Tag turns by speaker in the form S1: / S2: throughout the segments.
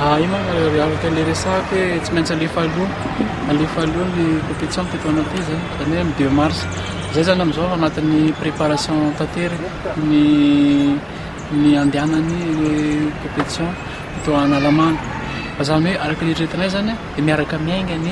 S1: Ah, io manko eh, araka ilay resahako hoe eh, tsy maintsy alefa aloha alefa aloha ny compétition teto anaty zany zany hoe deux mars zay zany amizao anatin'ny préparation tantery ny ny andehanany compétition teto analamanga fa zany hoe araka ny eritreretinay zany dia miaraka miainga ny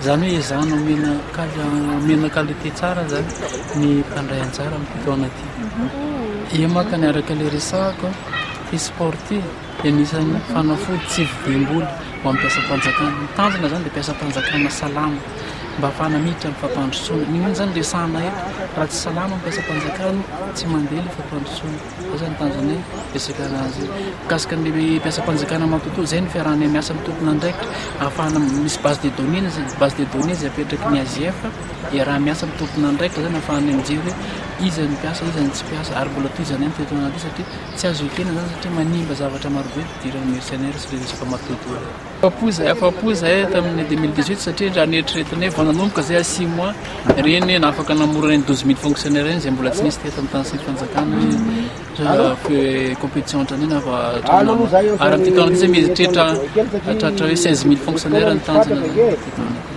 S1: Izany hoe izaho no omena kal- omena qualité tsara zany ny mpandray anjara amin'ity taona ity. Ie maka ny araka ilay resahako ity sport ity dia anisan'ny fanafody tsy vidim-bola ho an'ny mpiasam-panjakana. Ny tanjona izany dia mpiasam-panjakana salama mba hahafahana miditra amin'ny fampandrosoana. Ny inona izany resahana eto? Raha tsy salama ny mpiasam-panjakana tsy mandeha ilay fampandrosoana. Izay izany tanjona fisedrana azy io. Mikasika ny mpiasam-panjakana matoatoa, izay ny fiarahanay miasa amin'ny tompon'andraikitra ahafahana misy base de données na izay base de données izay apetraky ny AGF, iaraha-miasa amin'ny tompon'andraikitra izany ahafahanay mijery hoe iza no mpiasa, iza no tsy mpiasa ary mbola tohizanay ny fiatoanana ity satria tsy azo ekena izany satria manimba zavatra marobe ny fidiran'ny mercenaires sy ireo resaka matoatoa ireo. Afa-po izay, afa-po izay tamin'ny deux mille dix-huit satria raha ny eritreretana hoe vao nanomboka izay à six mois ireny hoe nafaka namorona ireny douze mille fonctionnaires ireny izay mbola tsy nisy teto amin'ny tany sy ny fanjakana hoe compétition ohatran'io na vao hatramin'ny ary amin'ity taona ity izay mieritreritra hahatratra hoe seize mille fonctionnaires ny tanjona teto aminay.